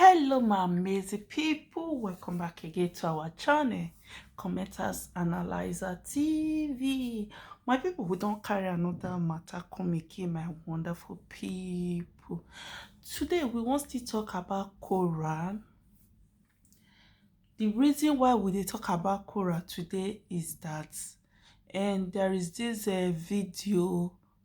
hello my amazing people welcome back again to our channel commenters analyzer tv my people who don't carry another matter come again my wonderful people today we want to talk about Quran the reason why we dey talk about Quran today is that and there is this uh, video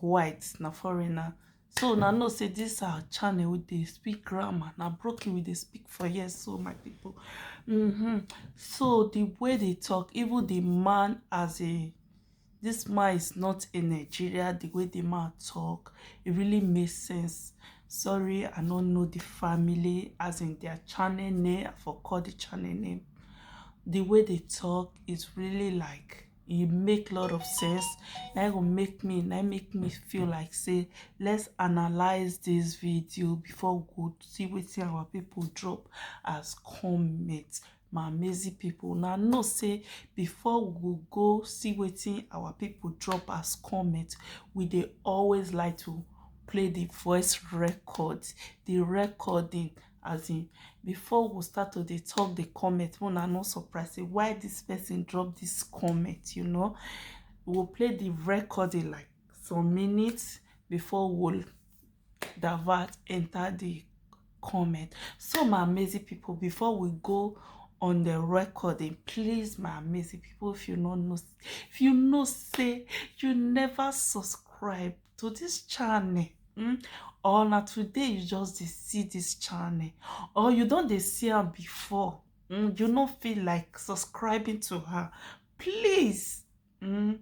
white na foreigner so na know say this our channel we dey speak grammar na broken we dey speak for here so my people mm -hmm. so the way they talk even the man as a this man is not a Nigeria the way the man talk it really makes sense sorry I don't know the family as in their channel name I forgot the channel name the way they talk is really like e make lot of sense na e go make me na make me feel like say let's analyze this video before we go see wetin our people drop as comment my amazing people now know say before we go go see wetin our people drop as comment we dey always like to play the voice record the recording as in before we start to dey talk the comment when i no surprise say why this person drop this comment you know we'll play the record in like some minutes before we'll divert enter the comment so my amazing people before we go on the recording please my amazing people if you not know if you know say you never subscribe to this channel hmm? or na today you just dey see this channel or you don dey see am before hmm? you no feel like subscribing to her please hmm?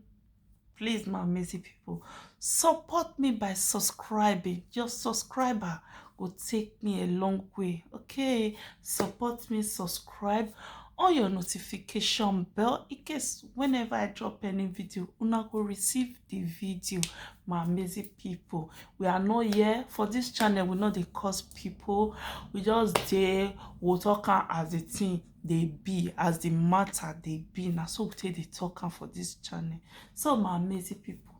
please my amazing people support me by subscribing just subscribe her go take me a long way okay support me subscribe on your notification bell in case whenever i drop any video una go receive the video my amazing people we are not here for this channel we know they cause people we just there we'll talk as the thing they be as the matter they be now so we take the talk for this channel so my amazing people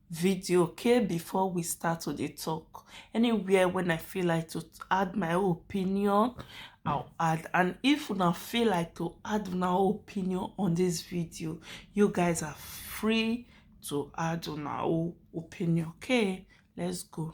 video okay before we start to the talk anywhere when i feel like to add my opinion i'll add and if you not feel like to add my opinion on this video you guys are free to add my opinion okay let's go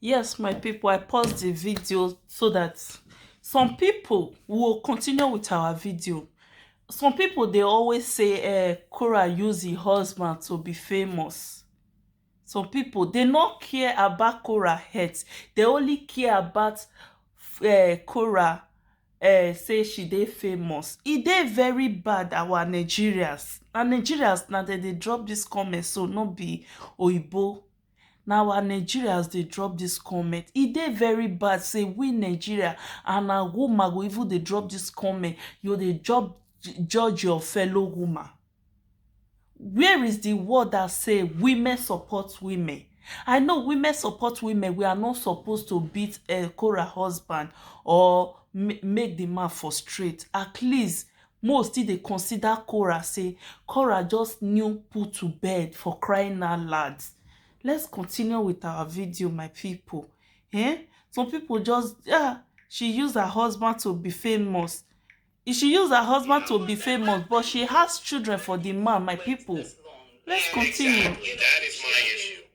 Yes, my people, I paused the video so that some people will continue with our video. Some people, they always say, eh, Cora use her husband to be famous. Some people, they not care about Cora heads. They only care about uh, eh, Cora uh, eh, say she dey famous. E dey very bad, our Nigerians. Na Nigerians, na dem dey drop this comment, so no be Oyibo Na our Nigerians dey drop this comment. E dey very bad say we Nigeria and na woman go even dey drop this comment. You dey judge judge your fellow woman. Where is the word that say women support women? I know women support women. We are not suppose to beat um Korah husband or make the man frustrate. At least Mo still dey consider Korah say Korah just new put to bed for crying out loud let's continue with our video my people eh some people just ah she use her husband to be famous she use her husband to be famous but she has children for the man my people let's continue.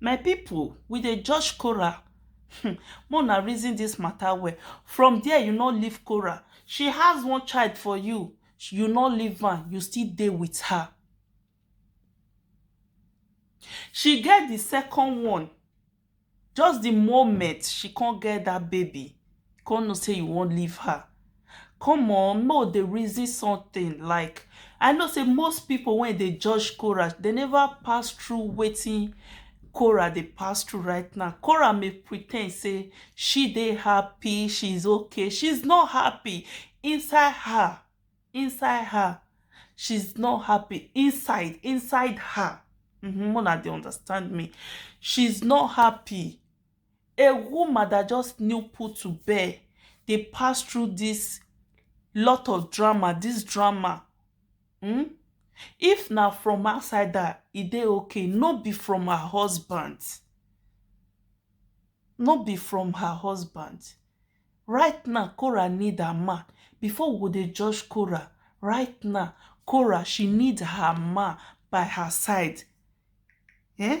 My pipu, we dey judge Korah um make una reason dis matter well. From there you no leave Korah, she has one child for you, you no leave am, you still dey with her. She get di second one, just di moment she come get dat baby, you come know sey you wan leave her. Come on make we dey reason something like I know sey most pipu wey dey judge Korah dey never pass through wetin Korah dey pass through right now. Korah may pre ten d sey she dey happy, she is okay, she is not happy inside her inside her she is not happy inside inside her um make una dey understand me she is not happy. A woman dat just new put to bed dey pass through dis lot of drama, dis drama um if na from outside her e dey okay no be from her husband no be from her husband right now Cora need her man before we go dey judge Cora right now Cora she need her man by her side um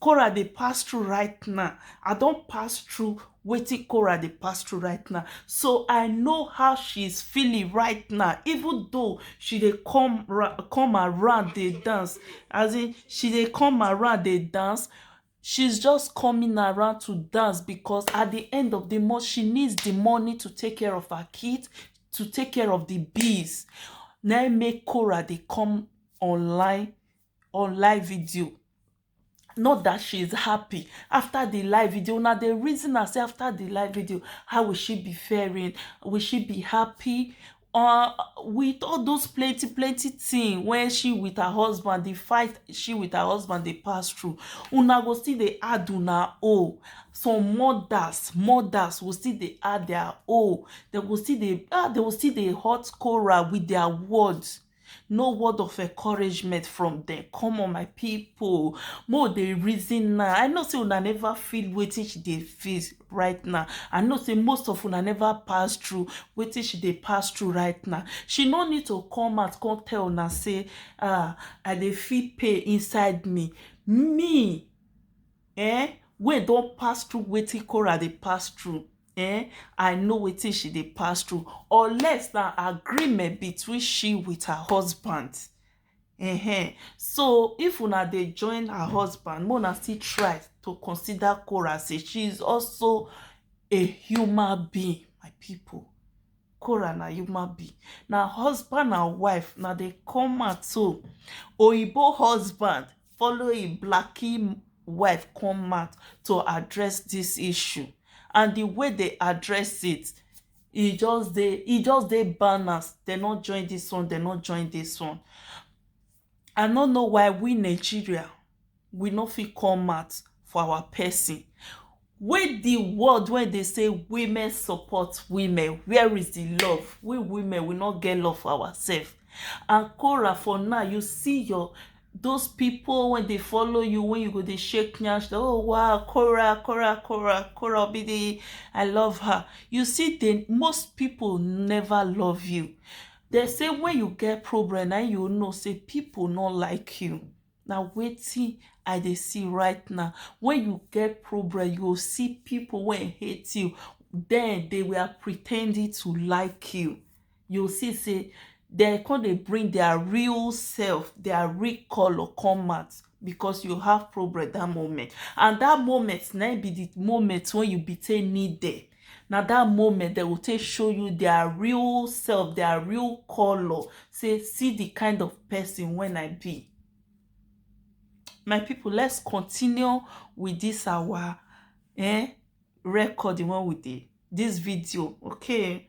Korah dey pass through right now. I don pass through wetin Korah dey pass through right now. So I know how she is feeling right now. Even though she dey come come around dey dance. As in she dey come around dey dance. She's just coming around to dance because at the end of the month, she needs the money to take care of her kids, to take care of the bills. Na make Korah dey come online on live video not that she is happy after the live video una dey reason am say after the live video how will she be faring will she be happy uh, with all those plenty plenty thing when she with her husband the fight she with her husband dey pass through una go still dey add una own some mothers mothers go still dey add their own they go still dey ah they go still dey hot quarrel with their words no word of encouragement from dem come on my people mo dey reason now i know say una never feel wetin she dey feel right now i know say most of una never pass through wetin she dey pass through right now she no need to come out come tell una say ah i dey feel pain inside me me eh wey don pass through wetin Cora dey pass through eh i know wetin she dey pass through unless na agreement between she with her husband uh-huh. so if una dey join her husband make una still try to consider Cora say she is also a human being my people Cora na human being na husband and wife na dey come out so oyibo husband following blaqi wife come out to address dis issue and di way dem address it e just dey e just dey balance dem no join dis one dem no join dis one I no know why we Nigeria we no fit come out for our person Wey di world wey dey say women support women where is di love we women we no get love for ourself and Kora for now you see your those people wey dey follow you wey you go dey shake nyash dey oh wow Kora Kora Kora Kora Obidi I love her you see dem most people never love you dem say when you get problem na im you know say people no like you na wetin I dey see right now. When you get problem, you go see people wey hate you. Then they were pretending to like you. You go see say they come dey bring their real self, their real color come out because you have problem that moment. And that moment na im be the moment wey you be take need them. na that moment dem go take show you their real self their real color say see the kind of person when i be my people let's continue with this our eh, recording when we did this video okay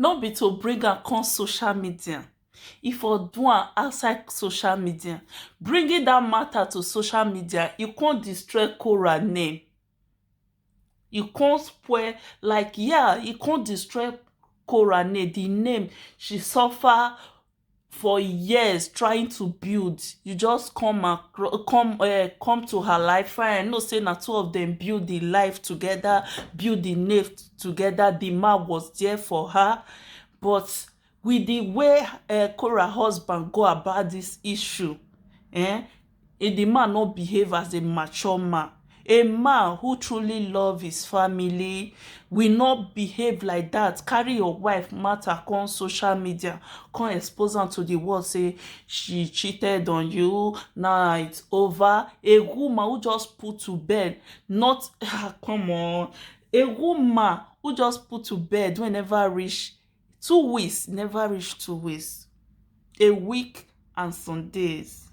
no be to bring am come social media e for do am outside social media bringing dat mata to social media e come destroy Korah name e come spoil like yah e come destroy Korah name di name she suffer for years trying to build you just come across come uh, come to her life fine i know say na two of them build the life together build the nave together the man was there for her but with the way uh, Cora husband go about this issue eh, If di man no behave as a mature man, a man who truly love his family will not behave like dat, carry your wife matter come social media come expose am to di world sey she cheated on you now it's over, a woman who just put to bed not um come on a woman who just put to bed wey e never reach. Two weeks never reach two weeks, a week and some days.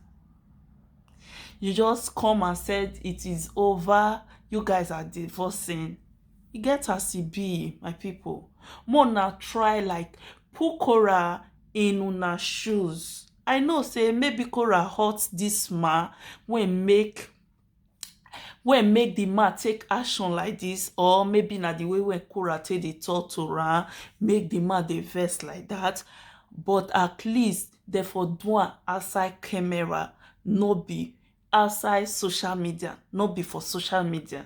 You just come and said it is over, you guys are divorcing. E get as e be, my people. More na try like put Korah in una shoes. I know say maybe Korah hurt this man wey make wey make di man take action like dis or maybe na di way wey Korah take dey talk to am make di man dey vex like dat but at least dem for do am outside camera no be outside social media, no be for social media.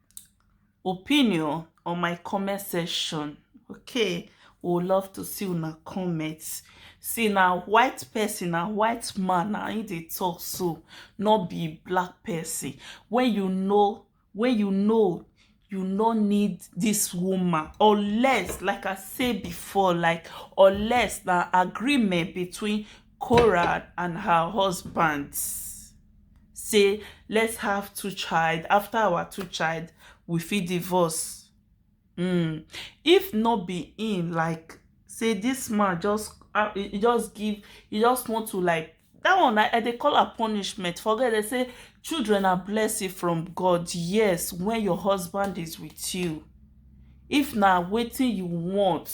opinion on my comment section okay we would love to see una comment see na white person na white man na him dey talk so no be black person when you know when you know you no need this woman unless like i say before like unless na agreement between Korah and her husband say let's have two child after our two child we fit divorce um if no be him like say this man just uh, he just give he just want to like that one I, I dey call her punishment forget they say children are blessing from God yes when your husband is with you if na waiting you want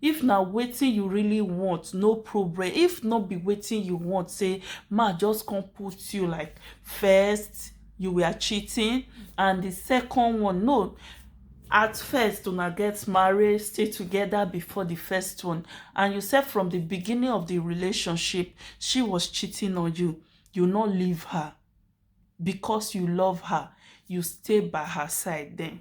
if na wetin you really want no problem if no be wetin you want say ma just come put you like first you were cheating and the second one no at first una get married stay together before the first one and you said from the beginning of the relationship she was cheating on you you not leave her because you love her you stay by her side then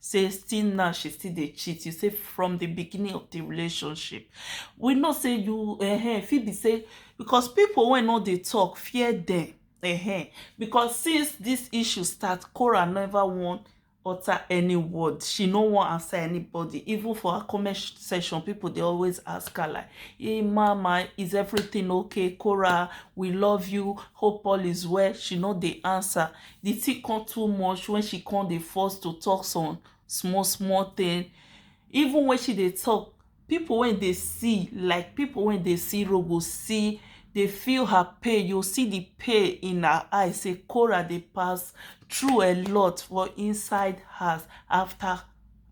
say still now she still dey cheat you say from the beginning of the relationship we know say you uh, fit be say because people wey no dey talk fear them uh, because since this issue start Cora never wan utter any word she no wan answer anybody even for her comment section people dey always ask her like hey mama is everything okay Cora we love you hope all is well she no dey answer the thing come too much when she come dey force to talk some small small thing even when she dey talk people wey dey see like people wey dey see road go see dey feel her pain you see the pain in her eye say Cora dey pass through a lot for inside house after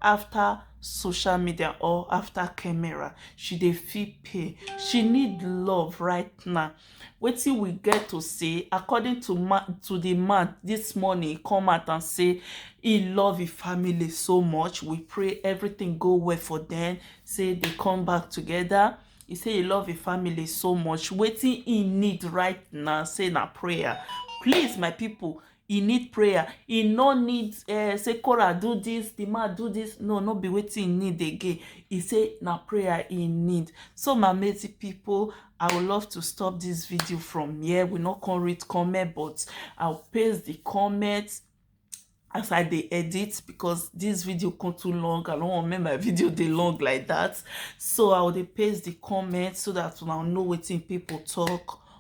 after social media or after camera she dey feel pain she need love right now wetin we get to say according to man to the man this morning he come out and say he love his family so much we pray everything go well for them say they come back together he say he love his family so much wetin he need right now say na prayer please my people e need prayer e no need uh, say Cora do this the man do this no no be wetin e need again e say na prayer e need so my mate people i would love to stop this video from here we no come read comment but i'll paste the comments as i dey edit because this video come too long i don't want make my video dey long like that so i will dey paste the comments so that una know wetin people talk